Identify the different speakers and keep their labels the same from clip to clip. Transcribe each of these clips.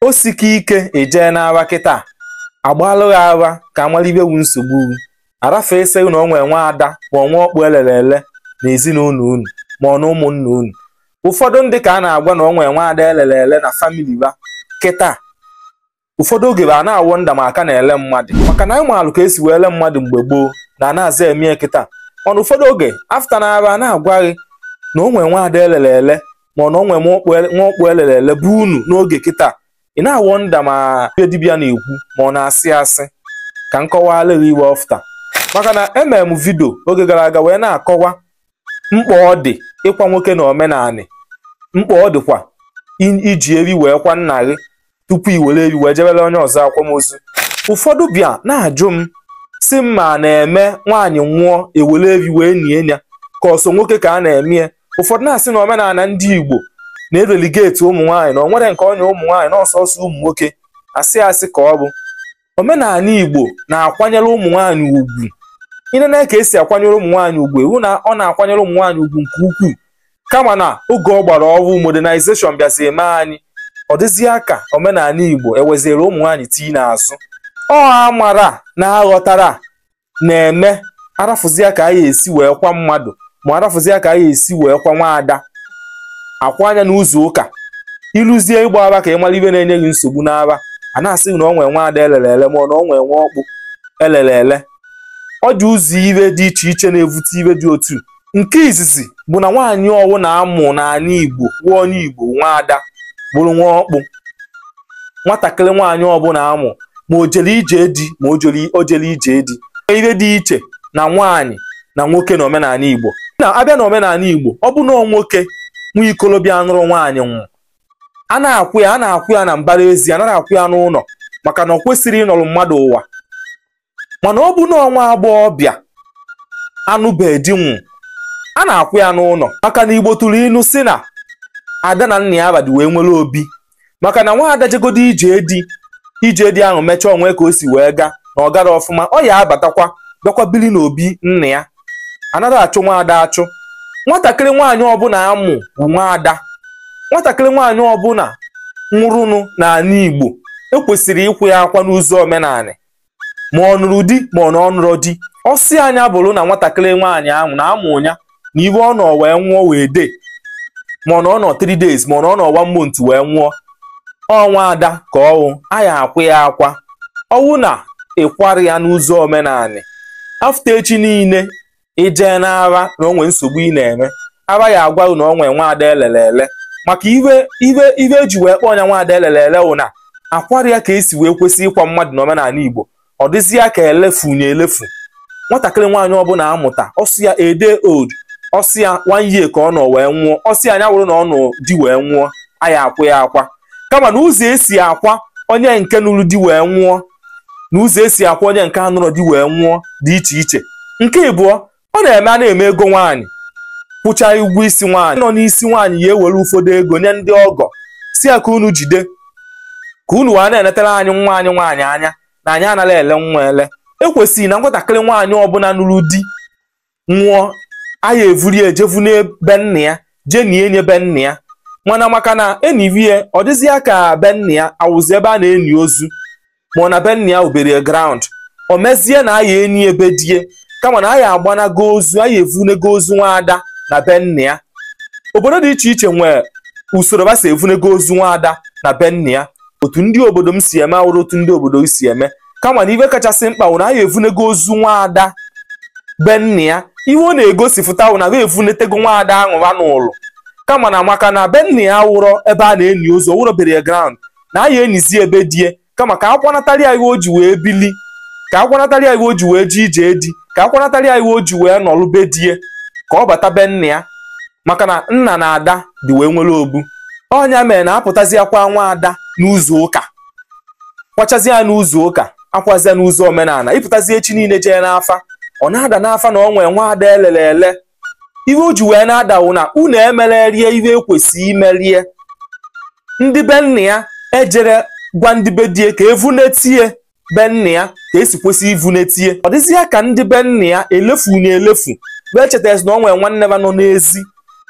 Speaker 1: o sike ike i jee n'afa kịta agbalụ gị afa ka a malụ ife wu nsogbu wu afa asị gị na o nwe nwa ada ma ọ nwa ọkpụ elere ele na ezinụlọ unu ma ọ na ụmụnna unu ụfọdụ ndị ka a na-agwa na o nwe nwa ada elere ele na famili fa kịta ụfọdụ oge fa na-awọnda ma a ka na-ele mmadụ maka na anyị maalụ ka esi wee ele mmadụ mgbe gboo na a na-aza eme kịta mana ụfọdụ oge a fụta na afa a na-agwa gị na o nwee nwaada elele ele ma ọ na o nwe nwa ọkpụ elere ele bụ unu n'oge kịta ị na-awọnda ma ihe dibịa na-ekwu ma ọ na-asị asị ka m kọwara gị ife ọ fụta maka na emere m vidio oge gara aga wee na-akọwa mkpa ọ dị ịkwa nwoke na omenanị mkpa ọ dịkwa iji efi wee kwa nna gị tupu i were efi wee jebere onye ọzọ akwamozu ụfọdụ bịa na-ajụ m sị m ma a na-eme nwaanyị nwụọ ewere efi wee nie ya ka ọ sọ nwoke ka a na-eme ya ụfọdụ na-asị na omenala ndị Igbo na-ereligeti ụmụ nwaanyị na ọ nwere nke o nye ụmụ nwaanyị na ọ sọsọ ụmụ nwoke asị asị ka ọ bụ omenala Igbo na-akwanyere ụmụ nwaanyị ugwu ị nene ka esi akwanyere ụmụ nwaanyị ugwu ị fụ na ọ na-akwanyere ụmụ nwaanyị ugwu nke ukwuu kama na oge ọgbara ọhụụ modernization bịazi eme anyị ọ dịzie ka omenala Igbo eweziere ụmụ nwaanyị tii n'azụ ọ amara na aghọtara na-eme arafụzia ka anyị esi wee kwa mmadụ ma arafụzia ka anyị esi wee kwa nwaada akwaa ya n'ụzọ ụka iluzie ịgba afa ka ị mara ife na-enye gị nsogbu n'afa a na-asị na ọ nwee nwaada elere ele ma ọ na ọ nwee nwa ọkpụ elere ele ọ dị ụzọ ife dị iche iche na-evute ife dị otu nke izizi bụ na nwaanyị ọwụna amụ n'ala Igbo nwa onye Igbo nwa ada bụrụ nwa ọkpụ nwatakịrị nwaanyị ọbụla amụ ma o jere ije di ma o jerọ ije di ihe dị iche na nwaanyị na nwoke na omenala Igbo na abịa na omenala Igbo ọ bụ na nwoke nwa ikolobịa anụrọ nwaanyị nwụọ a na-akwụ ya a na-akwụ ya na mbara ezi anaghị akwụ ya n'ụlọ maka na ọ kwesịrị ịnọrọ mmadụ ụwa mana ọ bụ na ọ nwa agbọghọbịa anụbeghị di nwụọ a na-akwụ ya n'ụlọ maka na igbo tụrụ ilu sị na ada na nna ya abadi wee nwere obi maka na nwa ada jegodo ije di ije di ahụ mechaa o nwe ka o si wee gaa na ọ garọ ọfụma ọ ya abatakwa bịakwa biri n'obi nna ya anaghị achụ nwa ada achụ nwatakịrị nwaanyị ọbụla amụ bụ nwa ada nwatakịrị nwaanyị ọbụla nwụrụnụ n'ala igbo ekwesịrị ịkwụ ya akwa n'ụzọ omenala ma ọ nụrụ di ma ọ na ọ nụrọ di ọsị anya bụrụ na nwatakịrị nwaanyị ahụ na amụ ya na ife ọ nọ wee nwụọ one day ma ọ na ọ nọ 3 days ma ọ na ọ nọ one month wee nwụọ ọ nwa ada ka ọ wụ a ya-akwụ ya akwa ọ wụ na ịkwarọ ya n'ụzọ omenala a fụta echi niile i jee n'afa na o nwe nsogbu ị na-enwe afa ya agwa na o nwe nwaada elele ele maka iwe iwe iwe eji wee kpọọ ya nwaada elele ele wụ na akwarọ ya ka esi wee kwesị ịkwa mmadụ na omenala Igbo ọ dịzi ya ka elefu nye elefu nwatakịrị nwaanyị ọbụla amụta ọ sọ ya a day old ọ sọ ya one year ka ọ nọ wee nwụọ ọ sọ ya nya wụrụ na ọ nọ di wee nwụọ a ya akwa ya akwa kama na ụzọ esi akwa onye nke nụrụ di wee nwụọ na ụzọ esi akwa onye nke anụrọ di wee nwụọ dị iche iche nke ịbụọ ọ na-eme a na-eme ego nwaanyị kwụcha ụgwọ isi nwaanyị nọ n'isi nwaanyị ya ewere ụfọdụ ego nye ndị ọgọ sị ya ka unu jide ka unu wee na-enetara anyị nwa anyị nwaanyị anya na anyị anaghị ele nwa ele ekwesị na nwatakịrị nwaanyị ọbụla nụrụ di nwụọ a ya evuri ya jevu na be nna ya jee ni nye be nna ya mana maka na enivie ọ dịzịa ka be nna ya awụzi ebe a na-eni ozu ma ọ na be nna ya ọ burial ground o mezie na a ya eni be die kama na a ya agbanago ozu a ya evunego ozu nwaada na be nna ya obodo dị iche iche nwee usoro ba si evunego ozu nwaada na be nna ya otu ndị obodo m si eme awụrọ otu ndị obodo si eme kama na ihe kachasị mkpa wụ na a ya evunego ozu nwaada be nna ya ihe ọ na-egosipụta wụ na ba evunetego nwaada anwụ n'ụlọ kama na maka na be nna ya awụrọ ebe a na-eni ozu ọ wụrọ burial ground na a ya enizie be die kama ka akwanatara ya ihe o ji wee bili ka akwanatara ya ihe o ji wee jee ije di ka akwanatara ya ihe o ji wee nọrụ be die ka ọ bata be nna ya maka na nna na ada dị wee nwere obu ọ nya mere na apụtazi akwa nwa ada n'ụzọ ụka kwachazie ya n'ụzọ ụka akwazia n'ụzọ omenala ịpụtazi echi niile jee n'afa ọ na-ada n'afa na ọ nwee nwa ada elele ele ihe o ji wee na-ada wụ na unu emererie ihe ekwesị imerie ndị be nna ya ejerọ gwa ndị be die ka evunetie be nna ya ka esi kwesị ivunetie ọ dịzi ya ka ndị be nna ya elefu na elefu wee chetazi na ọ nwee nwanne ha nọ n'ezi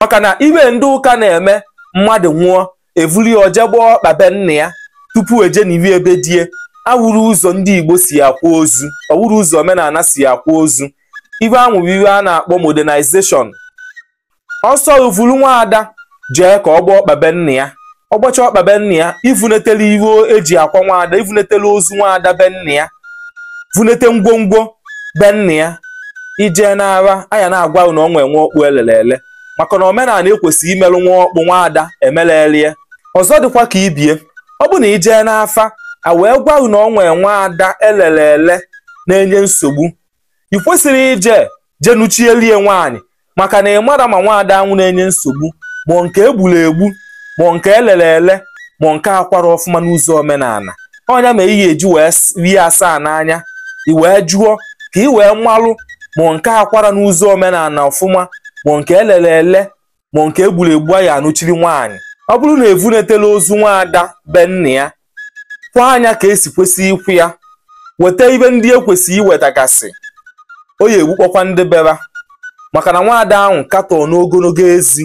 Speaker 1: maka na iwe ndị ụka na-eme mmadụ nwụọ evuli ya o je gbaa ọkpa be nna ya tupu eje n'ihu be die awụrọ ụzọ ndị Igbo si akwa ozu ọ wụrọ ụzọ omenala si akwa ozu iwe anwụ wụ iwe a na-akpọ modernization ọ sọ i vulu nwaada jee ka ọ gbaa ọkpa be nna ya ọ gbacha ọkpa be nna ya ivunetele iwe eji akwa nwaada ivunetele ozu nwaada be nna ya vunete ngwongwo be nna ya i jee n'afa a ya na-agwa na ọ nwe nwa ọkpụ elele ele maka na omenala ekwesịrị imelụ nwa ọkpụ nwa ada emelelie ọzọ dịkwa ka ibie ọ bụ na i jee n'afa a wee gwa gị na ọ nwee nwa ada elele ele na-enye nsogbu ị kwesịrị ije je nụchielie nwaanyị maka na ị marọ ma nwaada anwụ na-enye nsogbu ma ọ nke egburu egbu ma ọ nke elele ele ma ọ nke akwarọ ọfụma n'ụzọ omenala ọnya ma ihe eji wee rie asaa n'anya i wee jụọ ka ị wee malụ ma nke akwara n'ụzọ omenala ọfụma ma nke elere ele ma nke egburu egbu ya anụchiri nwaanyị ọ bụrụ na evunetela ozu nwaada be nna ya kwaa ya ka esi kwesị ịkwa ya weta ihe ndị ekwesị iwetagasị ọ ya egbukpọkwa ndị be ha maka na nwaada ahụ ka tọọ n'ogologo ezi